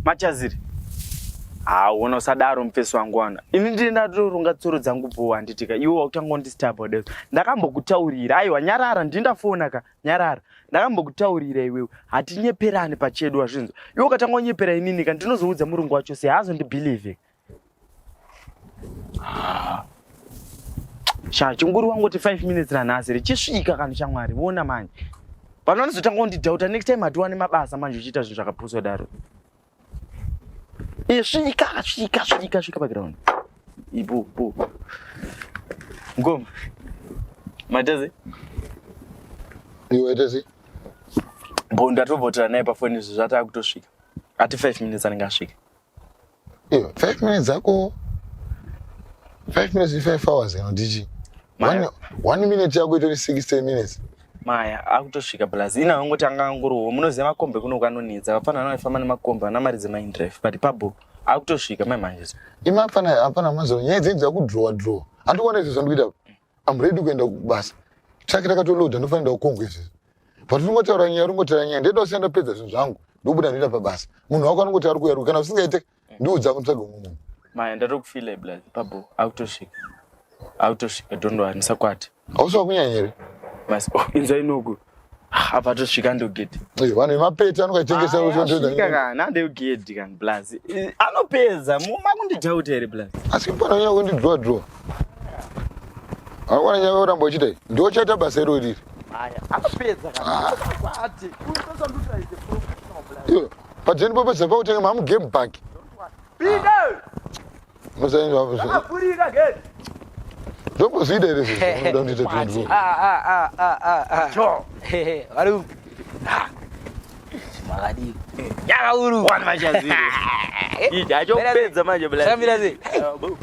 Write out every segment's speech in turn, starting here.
machaziri haona usadaro mufesi wangu wana ini ndiri ndatoronga tsoro dzangu bho handitika iwe wakutanga undistabode ndakambokutaurira aiwa nyarara ndiri ndafona ka nyarara ndakambokutaurira iwewe hatinyeperani pachedu wazvinzwa iwe ukatanga unyepera inini ka ndinozoudza murungu wacho se hazo ndibhilivhe ah. sha chinguri wangoti five minutes nanhasi richisvika kani shamwari vona manje pano anozotanga undidhauta next time hatiwane mabasa manje uchiita zvinhu zvakapuswa daro Svika, svika, svika, svika paground. Ipo, po. Ngoma. Matazi. Iwe Tazi. Bo ndatovhotera naye pafoni izvi zvatava kutosvika. Ati 5 minutes anenge asvika. Iwe 5 minutes zako 5 minutes 5 hours ino ndichi. One, one minute yako itori 60 minutes. maya akutosvika plus ina angoti anga angorowo munoziva makombe kuno kwanonetsa vapfana vana vaifamba nemakombe vana mari dzemaindrive but pabho akutosvika mai manje imi apfana apana mazuva nyaya dzenyu dzakudrowa drowa handikuona izvi zvandikuita am ready kuenda kubasa traki rakatoloda ndofanira kukongwa izvizvi but ringotaura nyaya ringotaura nyaya ndeda usiya ndapedza zvinhu zvangu ndobuda ndoita pabasa munhu wako anongoti ari kuyaruka kana usingaite ndiudza kutsvaga umwe munhu maya ndatokufila blood babo akutosvika akutosvika don't worry musakwate hausi wakunyanya here mas oh, inzai noku apa tosvika ndogedhi vanhu vemapeti anokaitengesa ah, nandegedhi kan blaz eh, anopedza makundidhauta here blaz asi pananyanya kundidrowa drowa awana nyaya uramba uchiita ndochaita basa iro riri anopedza padzeni popo zapa kutenge mamu game bank ndomboziida here makadii nyakauru wani machazi ija eh, achopedza manje samira ze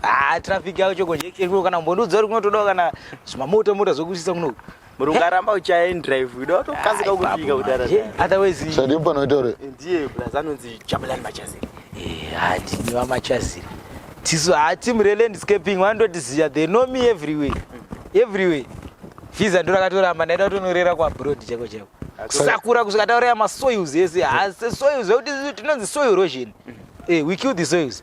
ah traffic yako choko jekeshe kuno kana mbondudzo uri kunotodawo kana zvimamoto mota zvokusisa kuno Murunga aramba uchaya in drive uda watokasika kufika kudara. Otherwise Sadi panoita uri. Ndiye plus anonzi Jabulani Machaziri. Eh, hati ni wa Machaziri. Tisu hati mure landscaping wandotiziya they know me everywhere. Everywhere. Fiza ndo rakatoramba ndaida kutonorera kwa broad chako chako. Sakura kusvika tauraya ma soils ese. Hasi soils zvekuti tinonzi soil erosion. Eh, we kill the soils.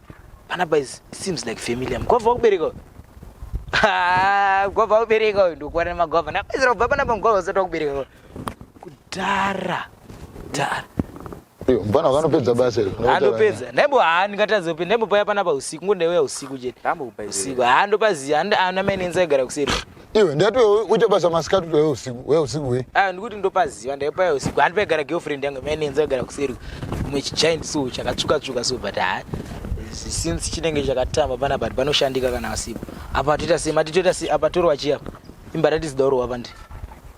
Pana boys seems like family am. Kwava kubereka. Ah, kwava kubereka uyu ndokuwana magwava. Na boys robva pana pamgwava usati wakubereka. Kudhara. Dara. Iyo mfana wakanopedza basa iri. Andopedza. Nebo haa ndingatadza kupinda. Nebo paya pana pa usiku. Ngo ndaiuya usiku chete. Ndambo kupa izvi. Usiku. Haa ndopaziya. Ana mai nenza igara kuseri. iwe ndati wewe uite basa masikati kuti wewe usiku wewe usiku we ah ndikuti ndopaziva ndaipa yo siku handi paigara girlfriend yangu mai nenza igara kuseri kumwe chichind so chakatsvuka tsvuka so but ha since chinenge chakatamba pana but panoshandika kana asipo apa toita sema titoita se apa torwa chiya imba ratisi dauro wapa ndi